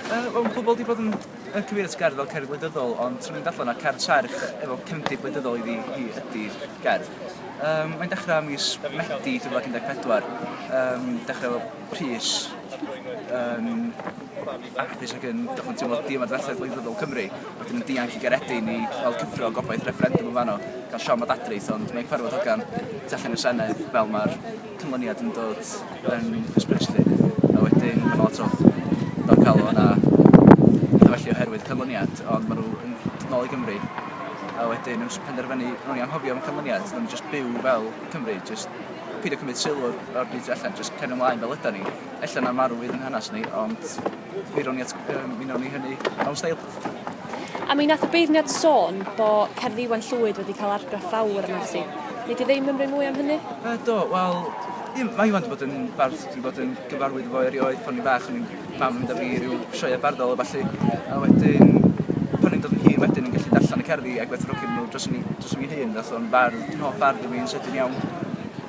Wel, mae pobl wedi bod yn, yn cyfeirio at gerdd fel cerdd wleidyddol, ond trwy mynd allan a cerdd serch efo cefndir wleidyddol iddi hi ydy'r gerdd. Um, mae'n dechrau mis Medi 2014, um, dechrau efo Rhys, um, actus ac yn dechrau teimlo di ymadferthedd wleidyddol Cymru, wedyn yn dianc i Garedin i fel cyffro gobaith referendum yn fanno, gan Siom a Dadrith, ond mae'n cyfarfod hogan tu allan i'r Senedd fel mae'r canlyniad yn dod yn hysbys 'lly a wedyn ma' 'na lot o ddiogelwch a petha felly oherwydd canlyniad ond ma' nhw yn dod nôl i Gymru a wedyn yn penderfynu o'n i anghofio am y canlyniad so o'n nhw'n jyst byw fel Cymry jyst peidio cymryd sylw o'r o'r byd tu allan jyst cario mlaen fel ydan ni. Ella 'na marw fydd yn hanes ni ond mi rown i at- yym mi newn ni hynny mewn steil. A mi nath y beirniad sôn bo cerdd Iwan Llwyd wedi cael argraff fawr am Arsi. Nei di ddim ymrwyn mwy am hynny? Yy do, wel, ie, ma' Iwan di bod yn bardd dwi bod yn gyfarwydd efo erioed pan o'n i'n fach o'n i'n mam yn mynd â fi i ryw sioea barddol a ballu a wedyn pan o'n i'n dod yn hŷn wedyn o'n i'n gallu darllan y cerddi a gwerthfawrogi nw dros fy dros fy hun nath o'n fardd yn hoff bardd o fi yn sydyn iawn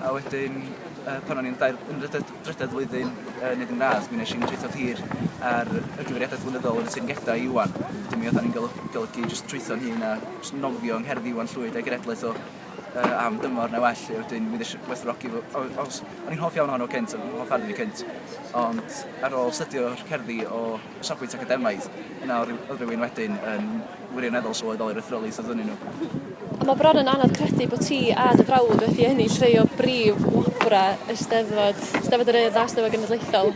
a wedyn yy pan o'n i'n dair yn ry- d- drydedd flwyddyn yn neud yn radd, mi nesh i'n trwytho tir ar y gyfeiriadaeth flynyddol yn y teyrngedau i Iwan. Wedyn mi oddan ni'n goly- golygu jyst trwytho'n hun a jyst nofio yng ngherddi Iwan Llwyd a'i genedlaeth o yy am dymor neu well 'lly wedyn mi nesh i werthfawrogi fo o- os o'n i'n hoff iawn ohono cynt o'n i'n hoff arno fi cynt ond ar ôl stydio'r cerddi o o safbwynt academaidd, yna o ryw, o rywun wedyn yn wirioneddol sylweddoli'r ethroliaeth oedd ynyn nhw. A mae bron yn anodd credu bod ti a dy frawd wedi ennill rhai o brif wobrau y Steddfod, Steddfod yr Urdd a Steddfod Genedlaethol.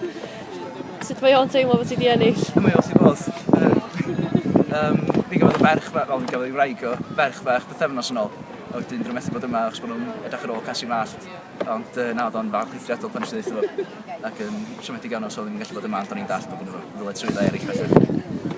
Sut mae o'n teimlo bod ti wedi ennill? Mae o wrth ei fodd. Yy yym mi gafodd y ferch fe- wel mi gafodd ei wraig o ferch fach bythefnos yn ôl a wedyn dwi methu bod yma achos bod nhw'n edrych ar ôl Casia Mellt. Ond yy na odd o'n falch eithriadol pan nesh i ddeutho fo. Ac yn siomedig iawn os odd 'im yn gallu bod yma ond o'n i'n dallt bo' gynno fo ddyletswydda eryll felly.